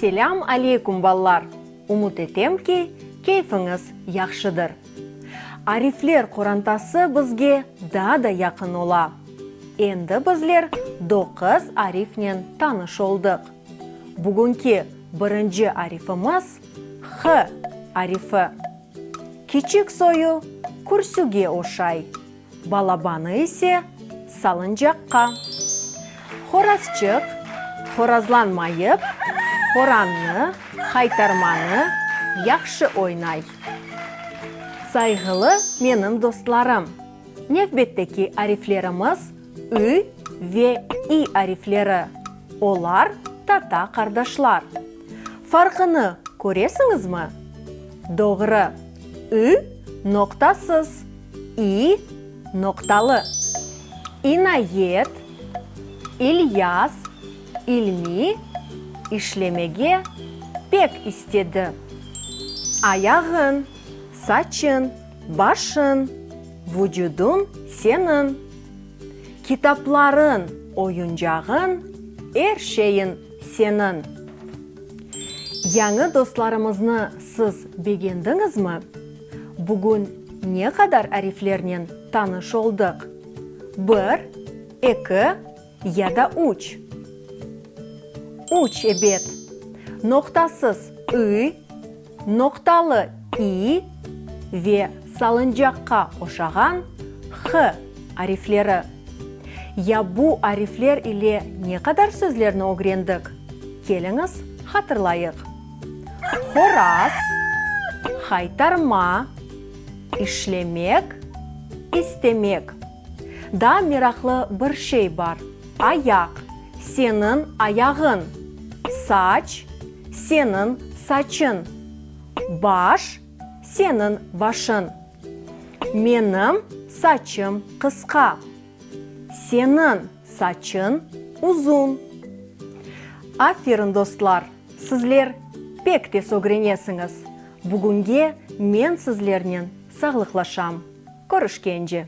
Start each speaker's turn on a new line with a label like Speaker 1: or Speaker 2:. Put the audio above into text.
Speaker 1: Selâm aleykum ballar! Umut etem ki, keyfiñiz yahşıdır. Arifler qorantası bizge daa da yaqın ola. Endi bizler doquz arifnen tanış oldıq. Bugünki birinci arifimiz, H arifi. Kiçik soyu kürsüge oşay. Balabanı ise salıncaqqa. Horazçıq horazlanmayıp, horannı, haytarmanı, yahşı oynay. Sayğılı menim dostlarım, nevbetteki ariflerimiz ü ve i arifleri, olar tata qardaşlar. Farqını köresiñizmi? Doğru, ü noqtasız. İ noqtalı, inayet, İlyas, İlmi işlemege pek istedi. Ayağın, saçın, başın, vucudun seniñ. Kitapların, oyuncağın, er şeyin seniñ. Yañı dostlarımıznı siz begendiñizmi? Bugün ne qadar ariflernen tanış oldıq? Bir, eki ya da üç? Üç, ebet. Noqtasız ı, noqtalı i ve salıncaqqa oşağan h arifleri. Ya bu arifler ile ne qadar sözlerni ögrendik? Keliñiz, hatırlayıq. Horaz, haytarma, işlemek, istemek. Daa meraqlı bir şey bar, ayaq, seniñ ayağıñ, saç, seniñ saçıñ, baş, seniñ başıñ. Menim saçım qısqa, seniñ saçıñ uzun. Aferin dostlar! Sizler pek tez ögrenesiñiz. Bugünge men sizlernen sağlıqlaşam. Körüşkence.